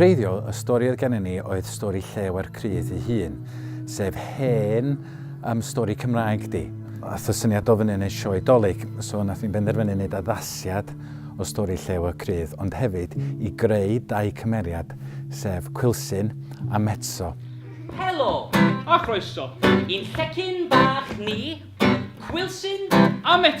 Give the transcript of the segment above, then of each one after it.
wreiddiol, y stori oedd gennym ni oedd stori Lleuer Crudd ei hun, sef hen am stori Cymraeg di. Ath y syniad o fyny yn y sioe Dolig, so nath ni'n benderfynu wneud addasiad o stori Llew y Crudd, ond hefyd i greu dau cymeriad, sef Quilsyn a Metso. Helo! A chroeso i'n llecyn bach ni, Quilsyn a Metso!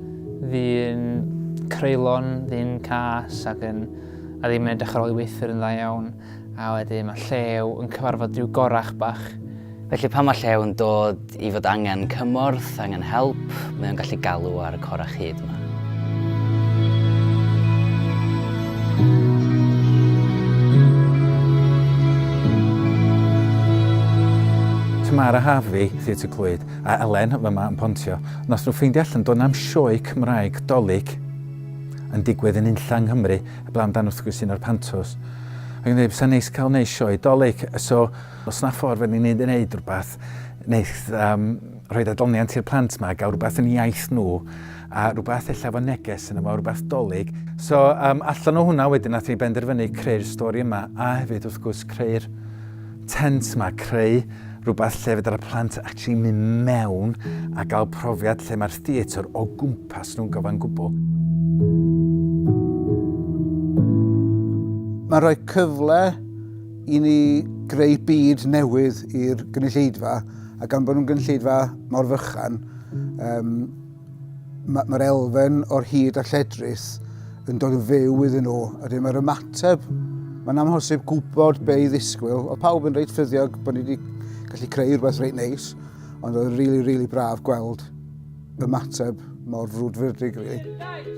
Fi'n creulon, fi'n cas ac yn... a ddim yn edrych ar ôl i weithwyr yn dda iawn, a wedyn mae Llew yn cyfarfod rhyw gorach bach. Felly pan mae Llew yn dod i fod angen cymorth, angen help, mae o'n gallu galw ar y corach hud 'ma. Tamara Harvey, Theatr Clwyd. A Elen fyma yn pontio. Nos nhw ffeindio allan do na'm sioe cymraeg dolig yn digwydd yn unlla yng Nghymru heblaw amdan wrth gwrs un o'r pantos. Ac yn dweud bysa neis cael neud sioe dolig so os na ffordd fydden ni'n neud yn neud rhywbeth neith um, rhoi adloniant i'r plant ma, gael rhywbeth yn iaith nhw a rhywbeth ella fo neges yn efo rhywbeth dolig. So um, allan o hwnna wedyn nath ni benderfynu creu'r stori yma a hefyd wrth gwrs creu'r tent ma, creu rhywbeth lle fedar y plant actually mynd mewn a gael profiad lle mae'r theatr o gwmpas nhw'n gyfan gwbl. Mae'n rhoi cyfle i ni greu byd newydd i'r gynulleidfa a gan bod nhw'n gynulleidfa mor fychan um, Mae'r elfen o'r hyd a lledrith yn dod yn fyw iddyn nhw, a dyma'r ymateb. Mae'n amhosib gwybod be i ddisgwyl. Oedd pawb yn reit ffyddiog bod ni wedi gallu creu rhywbeth reit neis, ond oedd yn rili, really, really braf gweld ymateb mor frwdfrydig, really.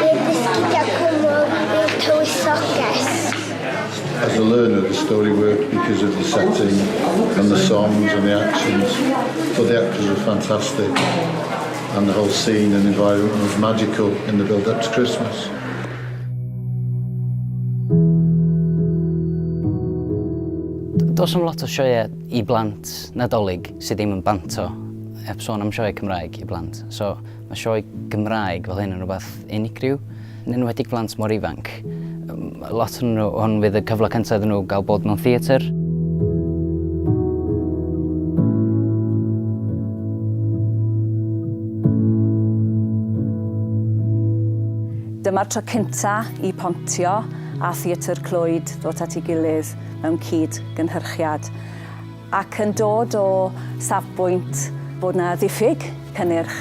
Bydd dysgidiau cwrw i'r tywysoges. As a learner, the story worked because of the setting and the songs and the actions. Thought the actors were fantastic and the whole scene and environment was magical in the build up to Christmas. Does am lot o sioeau i blant Nadolig sydd ddim yn banto, heb sôn am sioeau Cymraeg i blant. So, Mae sioe Gymraeg fel hyn yn rhywbeth unigryw, yn enwedig blant mor ifanc. Lot o'n nhw, hwn fydd y cyfle cyntaf iddyn nhw gael bod mewn theatr. Dyma'r tro cynta i Pontio a Theatr Clwyd ddod at ei gilydd mewn cyd-gynhyrchiad. ac yn dod o safbwynt bod 'na ddiffyg cynnyrch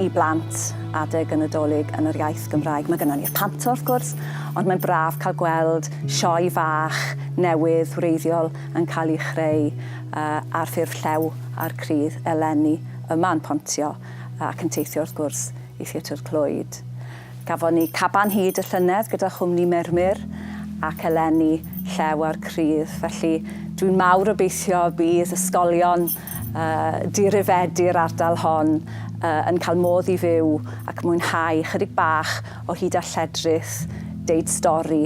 i blant adeg y Nadolig yn yr iaith Gymraeg. Mae gynnon ni'r Panto wrth gwrs, ond mae'n braf cael gweld sioe fach newydd wreiddiol yn cael ei chreu yy ar ffurf llew a'r crydd eleni yma yn Pontio ac yn teithio wrth gwrs i Theatr Clwyd. Gafon ni caban hyd y llynedd gyda chwmni Mermur ac eleni Llew a'r Crudd, felly dwi'n mawr obeithio bydd ysgolion dirifedi'r ardal hon yn cael modd i fyw ac mwynhau ychydig bach o hyd a lledrith deud stori